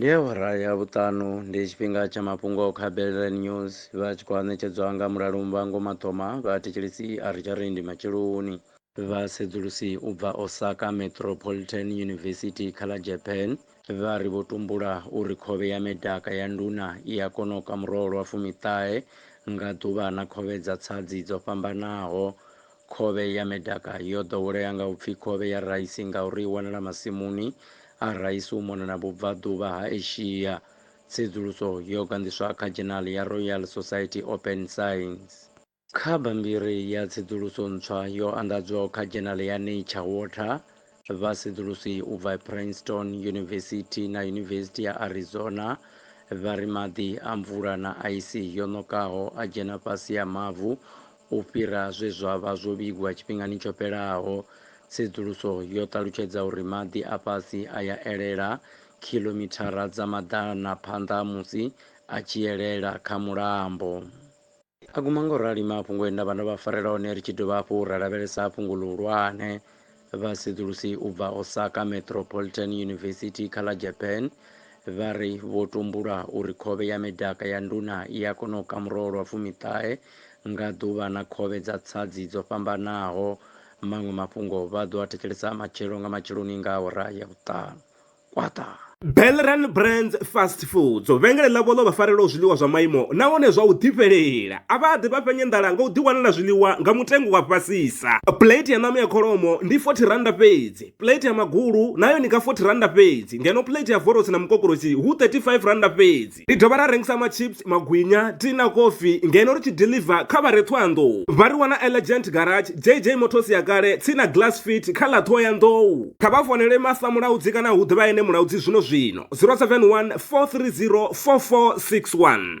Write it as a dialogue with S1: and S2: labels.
S1: ndi awara ya vhuṱanu ndi tshifhinga tsha mafhungo kha belran news vha tshi khou ṋetshedzwa nga mulalu mbango mathoma vha thetshelesi a ri tsha ri ndi matsheloni vhasedzulusi u bva osaka metropolitan university kha ḽa japan vha ri vho tumbula uri khovhe ya medaka ya nduna i a kona u ka muroho lwa fumiṱahe nga ḓuvha na khovhe dza tsadzi dzo fhambanaho Khovhe ya medaka yo ḓowelea nga u pfi khovhe ya raisi ngauri i wanala masimuni a raisi u mona na vhubvaḓuvha ha Asia. Tsedzuluso yo ganḓiswa kha dzhenali ya Royal Society Open Science. Kha bammbiri ya tsedzuluso ntswa yo anḓadzwaho kha dzhenali ya Nature Water, vhasedzulusi u bva Princeton Yunivesithi na Yunivesithi ya Arizona vha ri maḓi a mvula na aisi yo ṋokaho a dzhena fhasi ha mavu U fhira zwe zwa vha zwo vhigwa tshifhingani tsho fhelaho, tsedzuluso yo ṱalutshedza uri maḓi a fhasi a ya elela khilomithara dza maḓana phanḓa musi a tshi elela kha mulambo. A guma nga u rali mafhungo e nda vha ndo vha farela one ri tshi dovha hafhu ra lavhelesa fhungo ḽihulwane. Vhasedzulusi u bva Osaka Metropolitan University kha ḽa Japan vha ri vho tumbula uri khovhe ya medaka ya nduna i a kona u kamurowa lwa fumiṱahe nga ḓuvha na khovhe dza tsadzi dzo fhambanaho. Maṅwe mafhungo vha ḓo a thetshelesa matshelo nga matsheloni nga awara ya vhuṱanu. kwata Belran
S2: Brands Fast Foods vhengele ḽavho ḽo vha farelaho zwiḽiwa zwa maimo nahone zwa u ḓifhelela a vha ḓi vha fhenye nḓala nga u ḓiwanela zwiḽiwa nga mutengo wa fhasisa plate ya ṋama ya kholomo ndi 40 randa fhedzi plate ya magulu nayo ni nga 40 randa fhedzi ngeno plate ya vorosi na mukokorosi hu 35 randa fhedzi Ri dovha ra rengisa machips, magwinya, tea na kofi ngeno ri tshi deliver kha vha re Thohoyandou. Vha ri wana e Legend Garage, JJ Motors ya kale, tsini na Glass Fit kha ḽa Thohoyandou. Kha vha founele Master Mulaudzi kana hu ḓe vha ene Mulaudzi zwino zwino, 071 430 4461.